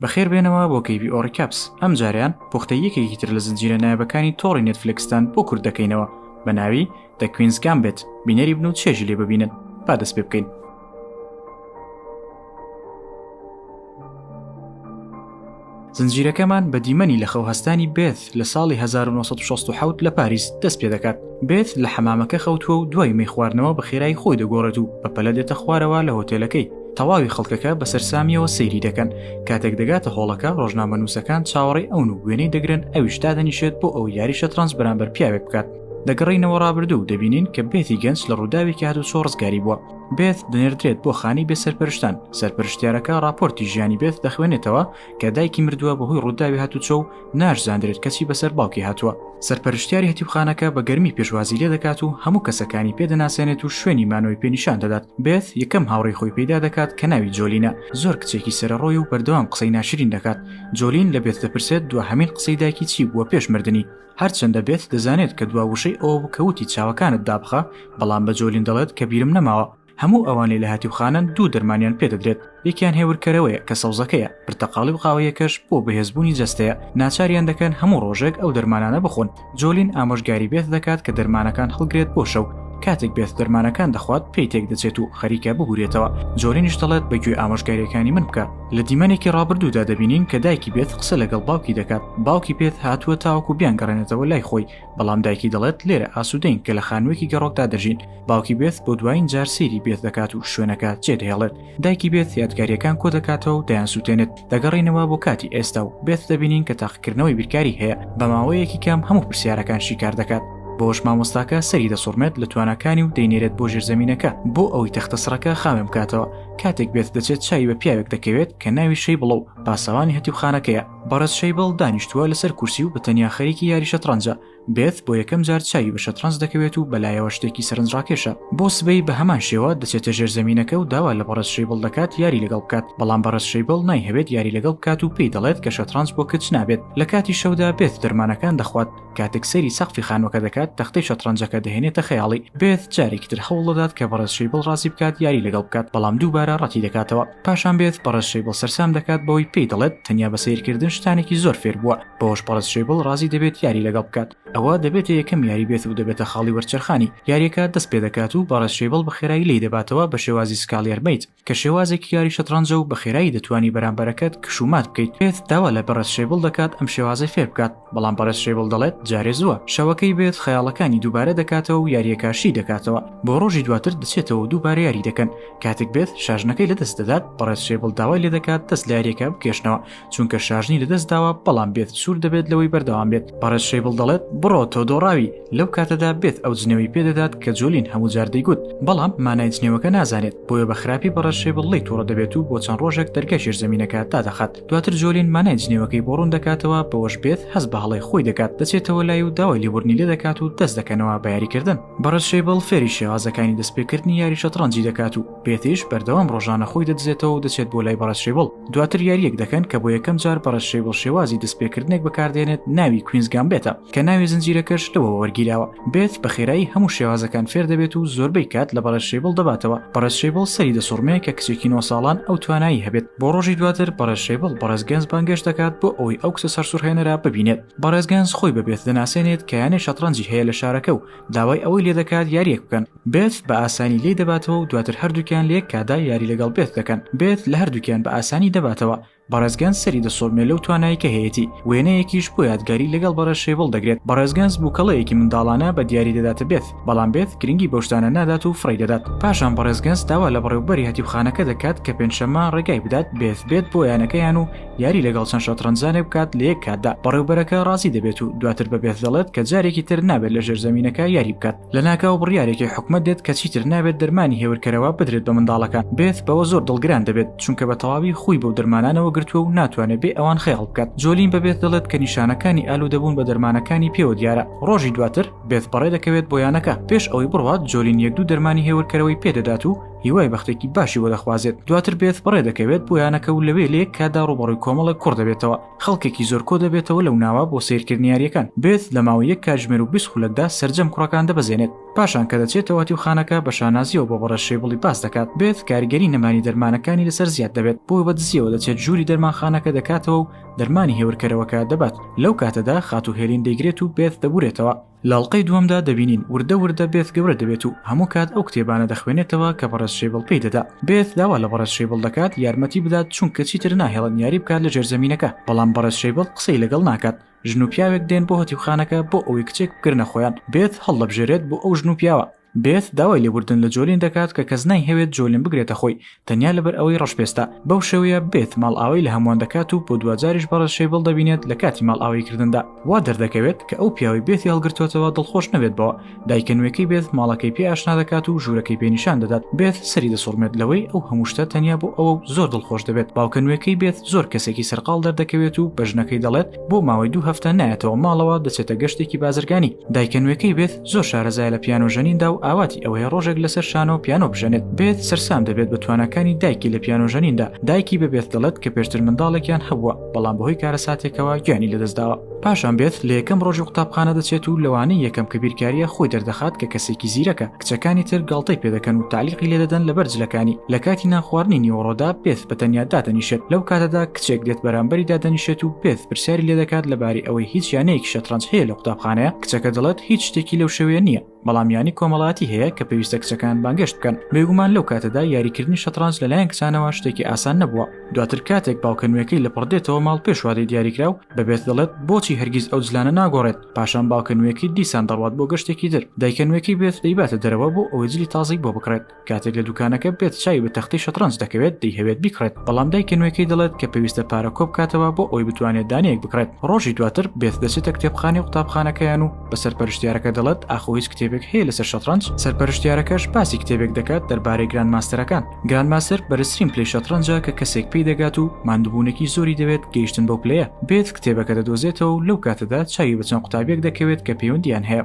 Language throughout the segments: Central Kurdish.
بەخێر بێنەوە بۆ کەیبی ئۆڕیکاپس ئەم جاریان پوختە یەکێکی تر لە زنجیرە نایبەکانی تۆڕی نێتفلکستان بۆ کورد دەکەینەوە بە ناوی دە کوینز گام بێت بینەری بن و چێژی لێ ببینن با دەست پێ بکەین زنجیرەکەمان بە دیمەنی لە خەوهستانی بێت لە ساڵی هەزار و نۆ سەد و شەست و حەوت لە پاریس دەست پێ دەکات بێت لە حەمامەکە خەوتووە و دوای مەی خواردنەوە بە خێرایی خۆی دەگۆڕێت و بە پەلە دێتە خوارەوە لە هۆتێلەکەی تەواوی خەڵکەکە بە سەرسامیەوە سەیری دەکەن کاتێک دەگاتە هۆڵەکە ڕۆژنامەنووسەکان چاوەڕێی ئەون و وێنەی دەگرن ئەویش دادەنیشێت بۆ ئەو یاری شەترەنج بەرامبەر پیاوێک بکات دەگەڕینەوە ڕابردوو و دەبینین کە بێتی گەنج لە ڕووداوێکی هاتو چۆ ڕزگاری بووە بێت دەنێردرێت بۆ خانی بێ سەرپەرشتان سەرپەرشتیارەکە راپۆرتی ژیانی بێت دەخوێنێتەوە کە دایکی مردووە بەهۆی ڕووداوی هاتوچۆ و ناشزاندرێت کەچی بەسەر باوکی هاتووە سەرپەرشتیاری هەتیوخانەکە بە گەرمی پێشوازی لێ دەکات و هەموو کەسەکانی پێدەناسێنێت و شوێنی مانەوەی پێنیشان دەدات بێت یەکەم هاوڕی خۆی پیدا دەکات کە ناوی جۆلینە زۆر کچێکی سەرڕۆی و بەردەوام قسەی ناشرین دەکات جۆلین لە بێت دەپرسێت دو هەمین قسەی دایکی چی بووە پێش مردنی هەرچەندە بێت دەزانێت کە دوا وشەی ئەوە بکەوتی چاوەکانت دابخە بەڵام بە جۆلین دەڵێت کە بیرم نەماوە هەموو ئەوانەی لە هاتیوخانەن دوو دەرمانیان پێدەدرێت یەکیان هێورکەرەوەیە کە سەوزەکەیە پرتەقاڵی و قاوەیەکەش بۆ بەهێزبوونی جەستەیە ناچاریان دەکەن هەموو ڕۆژێک ئەو دەرمانانە بخۆن جۆلین ئامۆژگاری بێت دەکات کە دەرمانەکان هەڵگرێت بۆ شەو کاتێک بێت دەرمانەکان دەخوات پێی تێک دەچێت و خەریکە ببورێتەوە جۆرینیش دەڵێت بە گوێ ئامۆژگاریەکانی من بکە لە دیمەنێکی ڕابردوودا دەبینین کە دایکی بێت قسە لەگەڵ باوکی دەکات باوکی پێت هاتووە تاوەکو بیان گەڕێنێتەوە لای خۆی بەڵام دایکی دەڵێت لێرە ئاسوودەین کە لە خانوویەکی گەڕۆکدا دەژین باوکی بێت بۆ دوایین جار سێری بێت دەکات و شوێنەکە جێدەهێڵێت دایکی بێت یادگاریەکان کۆ دەکاتەوە و دەیان سووتێنێت دەگەڕینەوە بۆ کاتی ئێستا و بێت دەبینین کە تاقیکردنەوەی بیرکاری هەیە بە ماوەیەکی کەم هەموو پرسیارەکان شیکار دەکات بۆش مامۆستاکە سەری دەسوڕمێت لە توانەکانی و دەینێرێت بۆ ژێرزەمینەکە بۆ ئەوەی تەختە سڕەکە خاوێن بکاتەوە کاتێک بێت دەچێت چای بە پیاوێک دەکەوێت کە ناوی شەی بڵە و پاسەوانی هەتیوخانەکەیە بەڕێز شەیبڵ دانیشتووە لەسەر کورسی و بە تەنیا خەریکی یاری شەتڕەنجە بێت بۆ یەکەم جار چاوی بە شەتڕەنج دەکەوێت و بەلایەوە شتێکی سەرنجڕاکێشە بۆ سبەی بە هەمان شێوە دەچێتە ژێر زەمینەکە و داوا لە بەڕێز شەیبڵ دەکات یاری لەگەڵ بکات بەڵام بەڕێز شەیبڵ نایهەوێت یاری لەگەڵ بکات و پێی دەڵێت کە شەتڕەنج بۆ کچ نابێت لە کاتی شەودا بێت دەرمانەکان دەخوات کاتێک سەیری سەقفی خانووەکە دەکات تەختەی شەتڕەنجەکە دەهێنێتە خەیاڵی بێت جارێکی تر هەوڵ دەدات کە بەڕێز شەیبڵ ڕازی بکات یاری لەگەڵ بکات بەڵام دووبارە ڕەتی دەکاتەوە پاشان بێت پەڕێز شەیبڵ سەرسام دەکات بەوەی پێی دەڵێت تەنیا بە سیرکردن شتانێکی زۆر فێر بووە بەوەش پەڕێز شەیبڵ ڕازی دەبێت یاری لەگەڵ بکات ئەوە دەبێتە یەکەم یاری بێت و دەبێتە خاڵی وەرچەرخانی یاریەکە دەست پێ دەکات و بەڕێز شەیبڵ بە خێرایی لی دەباتەوە بە شێوازی سکاڵیەر میت کە شێوازێکی یاری شەتڕەنجە و بە خێرایی دەتوانی بەرامبەرەکەت کش و مات بکەیت بێت داوا لە بەڕێز شەیبڵ دەکات ئەم شێوازی فێر بکات بەڵام بەڕێز شەیبڵ دەڵێت جارێ زووە شەوەکەی بێت خەیاڵەکانی دووبارە دەکاتەوە و یاریەکە شی دەکاتەوە بۆ ڕۆژی دواتر دەچێتەوە دووبارە یاری دەکەن کاتێک بێت شاژنەکەی لەدەست دەدات بەڕێز شێبڵ داوای لێ دەکات دەست لارێکە بکێشنەوە چونکە شاژنی لەدەست داوە بەڵام بێت سوور دەبێت لەوەی بەردەوام بێت بەڕێز شێبڵ دەڵێت بڕۆ تۆ دۆڕاوی لەو کاتەدا بێت ئەو جنێوی پێدەدات کە جۆلین هەموو جار دەیگوت بەڵام مانای جنێوەکە نازانێت بۆیە بە خراپی بەڕێز شێبڵ لی تووڕە دەبێت و بۆ چەند ڕۆژێک دەرگای ژێرزەمینەکە دادەخات دواتر جۆلین مانای جنێوەکەی بۆ ڕوون دەکاتەوە بەوەش بێت هەست بە هەڵەی خۆی دەکات دەچێتەوە لای و داوای لێبوردنی لێ دەکات و دەست دەکەنەوە بە یاریکردن بەڕێز شەیبڵ فێری شێوازەکانی دەستپێکردنی یاری شەتڕەنجی دەکات و پێتیش بەردەوام ڕۆژانە خۆی دەدزێتەوە و دەچێت بۆ لای بەڕێز شەیبڵ دواتر یاریەک دەکەن کە بۆ یەکەم جار بەڕێز شەیبڵ شێوازی دەستپێکردنێک بەکاردێنێت ناوی کوینزگام بێتە کە ناوی زنجیرەکەش لەوە وەرگیراوە بێت بە خێرایی هەموو شێوازەکان فێر دەبێت و زۆربەی کات لە بەڕێز شەیبڵ دەباتەوە بەڕێز شەیبڵ سەری دەسوڕمێ کە کچێکی نۆ ساڵان ئەو توانایی هەبێت بۆ ڕۆژی دواتر بەڕێز شەیبڵ بەڕێز گەنج بانگێش دەکات بۆ ئەوەی ئەو کچە سەرسوڕهێنەرە ببینێت بەڕێز گەنز خۆی بە بێت دەناسێنێت کە یانەی شەتڕەنجی هەیە لە شارەکە و داوای ئەوەی لێ دەکات یاریەک بکەن بێت بە ئاسانی لی دەباتەوە و دواتر هەردووکیان لە یەک کادا یاری لەگەڵ بێت دەکەن بێت لە هەردووکیان بە ئاسانی دەباتەوە بەڕێزگەنج سەری دەسۆمێ لەو توانایی کە هەیەی وێنەیەکیش بۆ یادگاری لەگەڵ بەڕێز شێبڵ دەگرێت بەڕێزگەنج بووکەڵەیەکی منداڵانە بە دیاری دەداتە بێت بەڵام بێت گرنگی بەشتانە نادات و فڕی دەدات پاشان بەڕێزگەنج داوا لە بەڕێوبەری هەتیوخانەکە دەکات کە پێنجشەمە ڕێگای بدات بێت بێت بۆ یانەکەیان و یاری لەگەڵ چەند شەتڕەنجانێک بکات لە یەک کاتدا بەڕێوبەرەکە ڕازی دەبێت و دواتر بە بێت دەڵێت کە جارێکی تر نابێت لە ژێرزەمینەکە یاری بکات لە ناکاو بڕیارێکی حکومت دێت کە چیتر نابێت دەرمانی هێورکەرەوە بدرێت بە منداڵەکە بێت بەوە زۆر دڵگران دەبێت چونکە بە تەواوی خوی بەو دەرمانانەوە گرتووە و ناتوانێت بێ ئەوان خەیاڵ بکات جۆلین بە بێت دەڵێت کە نیشانەکانی ئالو دەبوون بە دەرمانەکانی پێوە دیارە ڕۆژی دواتر بێت بەڕێ دەکەوێت بۆ یانەکە پێش ئەوەی بڕوات جۆلین یەک دوو دەرمانی هێورکەرەوەی پێدەدات و هیوای بەختێکی باشی بۆ دەخوازێت دواتر بێت بڕێ دەکەوێت بۆ یانەکە و لەوێ لێک کادا ڕوبەڕووی کۆمەڵێک کوڕ دەبێتەوە خەڵکێکی زۆر کۆ دەبێتەوە لەو ناوە بۆ سیرکردنی یاریەکان بێت لە ماوە یەک کاتژمێر و بیست خولەکدا سرجەم کوڕەکان دەبەزێنێت پاشان کە دەچێتەوە تیوخانەکە بە شانازیەوە بۆ بەڕە شێبڵی باس دەکات بێت کاریگەری نەمانی دەرمانەکانی لەسەر زیاد دەبێت بۆ بە دزیەوە دەچێت ژووری دەرمانخانەکە دەکاتەوە و دەرمانی هێورکەرەوەکە دەبات لەو کاتەدا خاتو هێلین دەیگرێت و بێت دەبورێتەوە لەڵقەی دووەمدا دەبینین وردە وردە بێث گەورە دەبێت و هەموو کات ئەو کتێبانە دەخوێنێتەوە کە بەڕێز شەیبڵ پێی دەدا بێث داوا لە بەڕێز شەیبڵ دەکات یارمەتی بدات چونکە چیتر ناهێڵن یاری بکات لە ژێرزەمینەکە بەڵام بەڕێز شەیبڵ قسەی لەگەڵ ناکات ژن و پیاوێک دێن بۆ هەتیوخانەکە بۆ ئەوەی کچێک بگرنە خۆیان بێث هەڵدەبژێرێت بۆ ئەو ژن و پیاوە بێت داوای لێبوردن لە جۆلین دەکات کە کەس نایهەوێت جۆلین بگرێتە خۆی تەنیا لەبەر ئەوەی ڕەشپێستە بەو شێوەیە بێت ماڵئاوای لە هەمووان دەکات و بۆ دواجاریش بەڕێز شەیبڵ دەبینێت لە کاتی ماڵئاوایی کردندا وا دەردەکەوێت کە ئەو پیاوەی بێتی هەڵگرتووەتەوە دڵخۆش نەبێت بەوە دایکە نوێکەی بێت ماڵەکەی پێ ئاشنا دەکات و ژوورەکەی پێ نیشان دەدات بێت سەری دەسوڕمێت لەوەی ئەو هەموو شتە تەنیا بۆ ئەوە و زۆر دڵخۆش دەبێت باوکە نوێکەی بێت زۆر کەسێکی سەرقاڵ دەردەکەوێت و بە ژنەکەی دەڵێت بۆ ماوەی دوو هەفتە نایەتەوە ماڵەوە دەچێتە گەشتێکی بازرگانی دایکە نوێکەی بێت زۆر شارەزایە لە پیانۆ ژەنیندا و ئاواتی ئەوەیە ڕۆژێک لەسەر شانۆ پیانۆ بژەنێت بێت سەرسام دەبێت بە تواناکانی دایکی لە پیانۆ ژەنیندا دایکی بە بێت دەڵێت کە پێشتر منداڵێکیان هەبووە بەڵام بەهۆی کارەساتێکەوە گیانی لەدەستداوە پاشان بێت لە یەکەم ڕۆژی قوتابخانە دەچێت و لەوانەی یەکەم کە بیرکاریە خۆی دەردەخات کە کەسێکی زیرەکە کچەکانی تر گاڵتەی پێدەکەن و تعلیقی لێدەدەن لە بەرجلەکانی لە کاتی نانخواردنی نیوەڕۆدا بێت بە تەنیا دادەنیشێت لەو کاتەدا کچێک دێت بەرامبەری دادەنیشێت و بێت پرسیاری لێدەکات لەبارەی ئەوەی هیچ یانەیەکی شەترەنج هەیە لە قوتابخانەیە کچەکە دەڵێت هیچ شتێکی لەو شێوەیە نییە بەڵام یانی کۆمەڵاتی هەیە کە پێویستە کچەکان بانگشت بکەن بێگومان لەو کاتەدا یاریکردنی شەترانج لەلایەن کچانەوە شتێکی ئاسان نەبووە دواتر کاتێک باوکەنوێکەی لە پڕدێتەوە ماڵ پێشوادەی دیاریکرا و بەبێت دەڵێت بۆچی هەرگیز ئەو جلانە ناگۆڕێت پاشان باوکەنوێکی دیسان دەڕوات بۆ گەشتێکی در دایکەنوێکی بێت دەیباتە دەرەوە بۆ ئەوەی جلی تازەی بۆ بکڕێت کاتێک لە دوکانەکە بێت چاوی بە تەختی شەترەنج دەکەوێت دەیهەوێت بیکڕێت بەڵام دایکە نوێەکەی دەڵێت کە پێویستە پارە کۆ بکاتەوە بۆ ئەوی بتوانێت دانەیەک بکڕێت ڕۆژی دواتر بێت دەچێتە کتێبخانەی قوتابخانەکەیان و بە سەرپەرشتیارەکە دەڵێت ئاخۆ هیچ کتێبێک هەیە لەسەر شەترەنج سەرپەرشتیارەکەش باسی کتێبێک دەکات دەربارەی گران ماستەرەکان گران ماستەر بەرزترین پلی شەترەنجە کە کەسێک پێی دەگات و ماندوبوونێکی زۆری دەوێت گەیشتن بەو پلەیە بێت کتێبەکە دەدۆزێتەوە و لەو کاتەدا چاوی بە چەند قوتابیەک دەکەوێت کە پەیوەندیان هەیە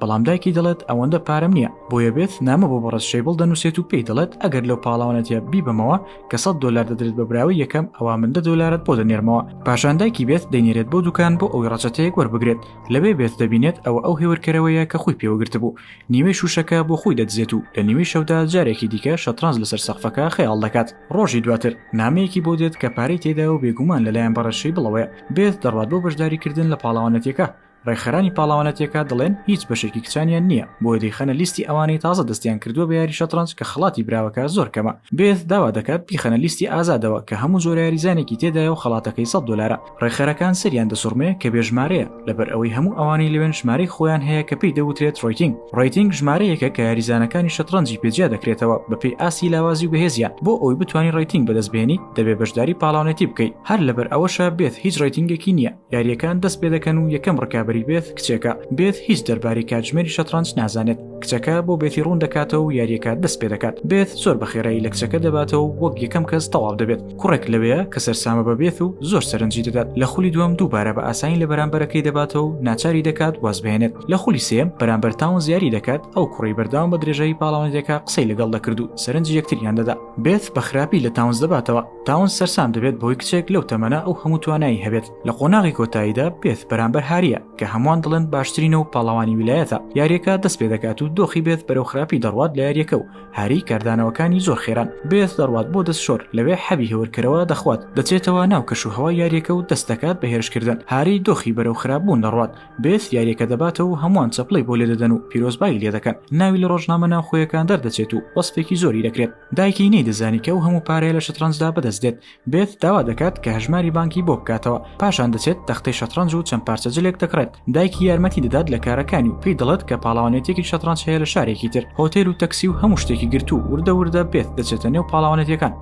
بەڵام دایکی دەڵێت ئەوەندە پارەم نییە بۆیە بێت نامە بۆ بەڕێز شەیبڵ دەنووسێت و پێی دەڵێت ئەگەر لەو پاڵاوانەتە بیبەمەوە کە سە دلار دەدرێت بە براوی یەکەم ئەوە من دە دلارت بۆ دەنێرمەوە پاشان دایکی بێت دەینێرێت بۆ دوکان بۆ ئەوی ڕەچەتەیەک وەربگرێت لەوێ بێت دەبینێت ئەوە ئەو هێورکەرەوەیە کە خۆی پێوەگرتبوو نیوەی شوشەکە بۆ خۆی دەدزێت و لە نیوەی شەودا جارێکی دیکە شەترانز لەسەر سەقفەکە خەیاڵ دەکات ڕۆژی دواتر نامەیەکی بۆ دێت کە پارەی تێدا و بێگومان لەلایەن بەڕەشەی بڵەوەیە بێت دەڕات بۆ بەشداریکردن لە پاڵەوانەتەکە ڕێکخەرانی پاڵاوانەتیەکە دەڵێن هیچ بەشێکی کچانیان نییە بۆیە دەیخەنە لیستی ئەوانەی تازە دەستیان کردووە بە یاری شەترەنج کە خەڵاتی براوەکە زۆر کەمە بێت داوا دەکات بیخەنە لیستی ئازادەوە کە هەموو جۆرە یاریزانێکی تێدایە و خەڵاتەکەی سەد دۆلارە ڕێکخەرەکان سەریان دەسوڕمێ کە بێ ژمارەیە لەبەر ئەوەی هەموو ئەوانەی لەوێن ژمارەی خۆیان هەیە کە پێی دەوترێت ڕۆیتینگ ڕۆیتینگ ژمارەیەکە کە یاریزانەکانی شەترەنجی پێجیا دەکرێتەوە بەپێی ئاستی لاوازی و بەهێزیان بۆ ئەوی بتوانانی ڕێتینگ بەدەست بێنیت دەبێ بەشداری پاڵاونەتی بکەیت هەر لەبەر ئەوەشە بێت هیچ ڕێتینگێکی نییە یاریەکان دەست پێ دەکەن و یەکەم ڕکابی بێت کچێکە بێت هیچ دەرباری کاتژمێری شەترانج نازانێت کچەکە بۆ بێتی ڕوون دەکاتەوە و یاریەکە دەست پێ دەکات بێت زۆر بەخێرایی لە کچەکە دەباتەوە وەک یەکەم کەس تەواو دەبێت کوڕێک لەوەیە کە سەرسامە بە بێت و زۆر سەرنجی دەدات لە خولی دووەم دووبارە بە ئاسانی لە بەرامبەرەکەی دەباتەوە و ناچاری دەکات وازبێنێت لە خولی سێم بەرامبەر تاون زیاری دەکات ئەو کوڕی بەرداوام بە درێژایی پاڵاوانێتەکە قسەی لەگەڵ دەکرد و سەرنج یەکتریان دەدا بێت بە خراپی لە تاونز دەباتەوە تاون سەرسام دەبێت بەوەی کچێک لەو تەمەە ئەو هەموو توانایی هەبێت لە قۆناغی کۆتاییدا بێت بەرامبەر هاریە کە هەمووان دڵێن باشترینە و پاڵەوانی ویلایەتە یاریەکە دەست پێ دەکات و دۆخی بێت بەرەو خراپی دەڕوات لە یاریەکە و هاری کاردانەوەکانی زۆر خێران بێت دەڕوات بۆ دەست شۆر لەوێ حەبی هێورکەرەوە دەخوات دەچێتەوە ناو کەش و هەوا یاریەکە و دەست دەکات بە هێرشکردن هاری دۆخی بەرەو خراپبوون دەڕوات بێت یاریەکە دەباتەوە و هەمووان چەپڵی بۆ لێ دەدەن و پیرۆزبایی لێ دەکەن ناوی لە ڕۆژنامە ناوخۆیەکان دەردەچێت و وەسپێکی زۆری دەکرێت دایکی نەیدەزانی کە ئەو هەموو پارەیە لە شەترەنجدا بەدەست دێت بێت داوا دەکات کە هەژماری بانکی بۆ بکاتەوە پاشان دەچێت تەختەی شەترەنج و چەند پارچە جلێک دەکڕێت دایکی یارمەتی دەدات لە کارەکانی و پێی دەڵێت کە پاڵاوانێتێکی شەترەنج هەیە لە شارێکی تر هۆتێل و تەکسی و هەموو شتێکی گرت و وردە وردە بێت دەچێتە نێو پاڵاوانێتەکان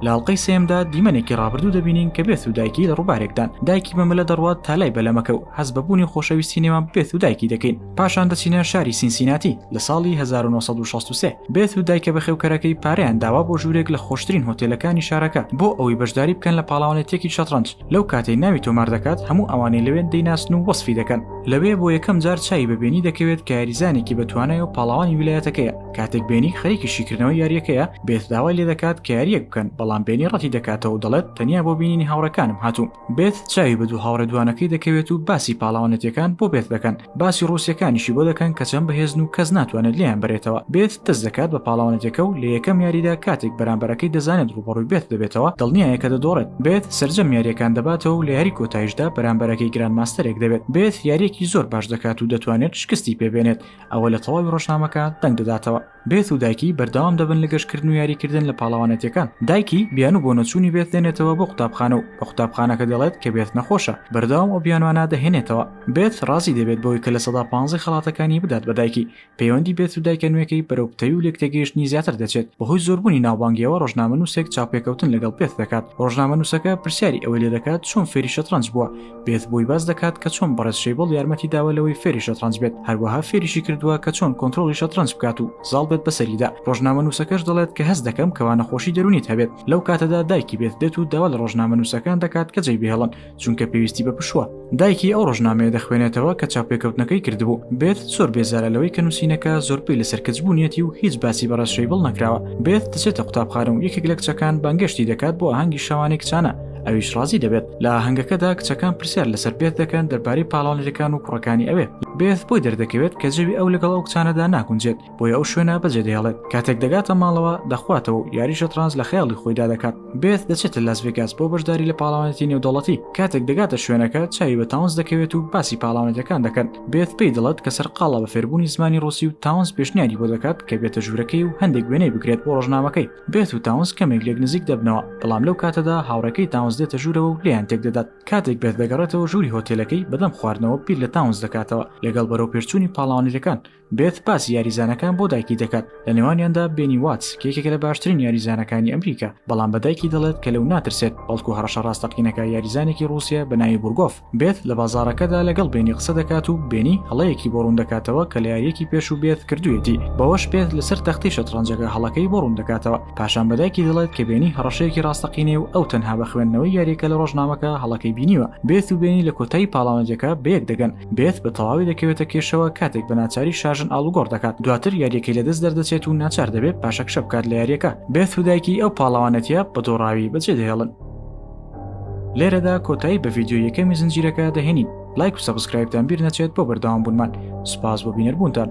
لاڵقەی سێمدا دیمەنێکی ڕابردوو دەبینین کە بێت و دایکی لە ڕووبارێکدان دایکی بەمەلە دەڕوات تا لای بەلەمەکە و هەز بەبوونی خۆشەویستی نێوان بێت و دایکی دەکەین پاشان دەچینە شاری سینسیناتی لە ساڵی 1963 بێت و دایکە بەخێوکەرەکەی پاریان داوا بۆ ژوورێک لە خۆشترین هۆتێلەکانی شارەکە بۆ ئەوەی بەشداری بکەن لە پاڵاوانێتێکی شەتڕەنج لەو کاتەی ناوی تۆمار دەکات هەموو ئەوانەی لەوێن دەیناسن و وەسفی دەکەن لەوێ بۆ یەکەم جار چای بەبێنی دەکەوێت کە یاریزانێکی بەتوانای و پاڵاوانی ویلایەتەکەیە کاتێک بێنی خەریکی شیکردنەوە یاریەکەیە بێت داوای لێ دەکات کە یاریەک بکەن بەڵام بێنی ڕەتی دەکاتەوە دەڵێت تەنیا بۆ بینینی هاوڕەکانم هاتووم بێث چاوی بە دوو هاوڕێ دوانەکەی دەکەوێت و باسی پاڵاوانێتیەکان بۆ بێث دەکەن باسی ڕوسیەکانیشی بۆ دەکەن کە چەند بەهێزن و کەس ناتوانێت لێیان بەرێتەوە بێث دەست دەکات بە پاڵاوانێتەکە و لە یەکەم یاریدا کاتێک بەرامبەرەکەی دەزانێت ڕوبەڕوی بێث دەبێتەوە دڵنیایە کە دەدۆڕێت بێث سەرجەم یاریەکان دەباتەوە و لە یاری کۆتایشدا بەرامبەرەکەی گران ماستەرێک دەبێت بێث یاریەکی زۆر باش دەکات و دەتوانێت شکستی پێ بێنێت ئەوە لە تەواوی ڕۆژنامەکە دەنگ دەداتەوە. بێث و دایکی بەردەوام دەبن لە گەشتکردن و یاریکردن لە پاڵەوانێتیەکان دایکی بیانو بۆ نەچوونی بێث دێنێتەوە بۆ قوتابخانە و بە قوتابخانەکە دەڵێت کە بێث نەخۆشە بەردەوام ئەو بیانوانە دەهێنێتەوە بێث ڕازی دەبێت بەوەی کە لە سەدا پانزەی خەڵاتەکانی بدات بە دایکی پەیوەندی بێث و دایکە نوێکەی بەرەو پتەوی و لێکتێگەیشتنی زیاتر دەچێت بەهۆی زۆربوونی ناوبانگیەوە ڕۆژنامەنووسێک چاوپێکەوتن لەگەڵ بێث دەکات ڕۆژنامەنووسەکە پرسیاری ئەوەی لێ دەکات چۆن فێری شەترەنج بووە بێت بۆی باس دەکات کە چۆن بەڕێز شەیبڵ یارمەتی داوە لەوەی فێری شەتڕەنج بێت هەروەها فێریشی کردووە کە چۆن کۆنتترۆڵی شەتڕەنج بکات و زاڵ بێت بەسەریدا ڕۆژنامە نووسەکەش دەڵێت کە هەست دەکەم کەوا نەخۆشی دەرونیت هەبێت لەو کاتەدا دایکی بێت دێت و داوا لە ڕۆژنامە نووسەکان دەکات کە جێی بهێڵن چونکە پێویستی بە پشوە دایکی ئەو ڕۆژنامەیە دەخوێنێتەوە کە چاپێکەوتنەکەی کردبوو بێت زۆر بێزارە لەوەی کە نووسینەکە زۆر پێی لەسەر کچ بوونیەتی و هیچ باسی بەڕێز شەیبڵ نەکراوە بێت دەچێتە قوتابخانە و یەکێک لە کچەکان بانگشتی دەکات بۆ ئاهەنگی شەوانێک چانە ئەویش ڕازی دەبێت لە هەنگەکەدا کچەکان پرسیار لەسەر بێت دەکەن دەربارەی پاڵانەرەکان و کوڕەکانی ئەوێ بێت بۆی دەردەکەوێت کە جەوی ئەو لەگەڵ ئەو کچانەدا ناگونجێت بۆی ئەو شوێنە بەجێ دەهێڵێت کاتێک دەگاتە ماڵەوە دەخواتەوە و یاری شەترانز لە خەیاڵی خۆیدا دەکات بێت دەچێتە لاس ڤێگاس بۆ بەشداری لە پاڵاوانێتی نێودەوڵەتی کاتێک دەگاتە شوێنەکە چاوی بە تاونز دەکەوێت و باسی پاڵاوانێتەکان دەکەن بێت پێی دڵت کە سەرقاڵە بە فێربوونی زمانی ڕوسی و تاونز پێشنیاری بۆ دەکات کە بێتە ژوورەکەی و هەندێک وێنەی بگرێت بۆ ڕۆژنامەکەی بێت و تاونس کەمێک لێک نزیک دەبنەوە بەڵام لەو کاتەدا هاوڕەکەی تاونس دێتە ژوورەوە و لیان تێک دەدات کاتێک بێت دەگەڕێتەوە ژووری هۆتێلەکەی بەدەم خواردنەوە بیر لە تاونس دەکاتەوە لەگەڵ بەرەو پێرچووی پاڵاوانەکان بێت باسی یاریزانەکان بۆ دایکی دەکات لە نێوانیاندا بینی وات کێکێکە لە باشترین یاریزانەکانی ئەمریکا بەڵام بە دایکی دەڵێت کە لەو ناترسێت بەڵکو هەڕەشە ڕاستەقینەکە یاریزانێکی رووسە بە ناوی بورگۆف بێت لە بازاڕەکەدا لەگەڵ بێنی قسە دەکات و بێنی هەڵەیەکی بۆ ڕوون دەکاتەوە کە لە یاریەکی پێش و بێت کردوویەتی بەوەش بێت لەسەر تەختی شەتڕەنجەکە هەڵەکەی بۆ ڕوون دەکاتەوە پاشان بەدایکی دەڵێت کە بێنی هەڕەشەیەکی ڕاستەقینەیە و ئەو تەنها بە خوێندنەوەی یاریەکە لە ڕۆژنامەکە هەڵەکەی بینیوە بێت و بێنی لە کۆتایی پاڵاوانجەکە بەیەک دەگەن بێت بە تەواوی دەکەوێتە کێشەوە کاتێک بە ناچاری شاژن ئاڵوگۆڕ دەکات دواتر یاریەکەی لەدەست دەردەچێت و ناچار دەبێت پاشەکشە بکات لە یاریەکە بێت و دایکی ئەو پاڵاوانێتە بە دۆڕاوی بەجێ دەهێڵن. لێرەدا کۆتایی بە ڤیددیو یەکەمی زنجیرەکە دەهێنین لایک و سەبسکرایبتان بیر نەچێت بۆ بەرداوام بوونمان سپاس بۆ بینەربوونتان